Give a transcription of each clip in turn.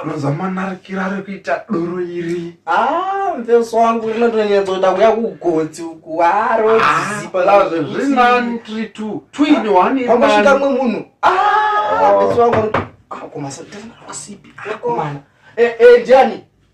anozamanarikira ari kuita doro iri ah, mfeso wangu rinotonyatsoita kuya kugotsi uku arozipaazvezvinani ah, tiri two twini waneaosvika mwe munhu mfeso ah, wangu akumasaiasipi akomana eh, eh, ndiani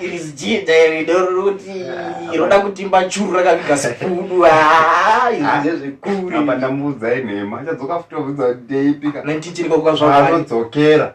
iri zijinja iri ndoroti roda kutimba churu rakaviga sikudu ndezvekuri apa ndamudza inhema achadzoka futi obvunza kuti ndeipika 19 chiriko kwazvanodzokera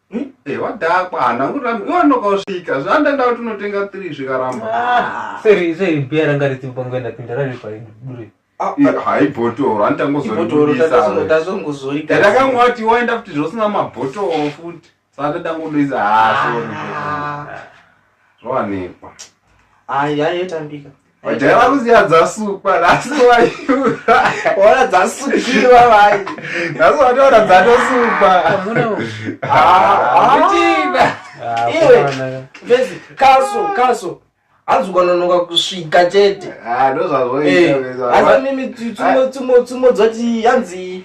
Eh, wadhakwa hana kuramba iwe anoka usvika zvandaenda kuti unotenga three zvikaramba ah. seri seri biya ranga ritipo panguva ndapinda rari paidure ah, haibhotoro anditangozoidakangoati waenda futi zvosina mabhotoro futi saka tangodoisa hasori ah, zvowanikwa ayi aitambika Vajaya vari kuziva dzasukwa nhasi vaona dzasukiwa vai nhasi vataona dzatosukwa iwe vesi kaso kaso hanzi ukanonoka kusvika chete ndozvazvoiazanimi tsumo tsumo tsumo dzoti hanzi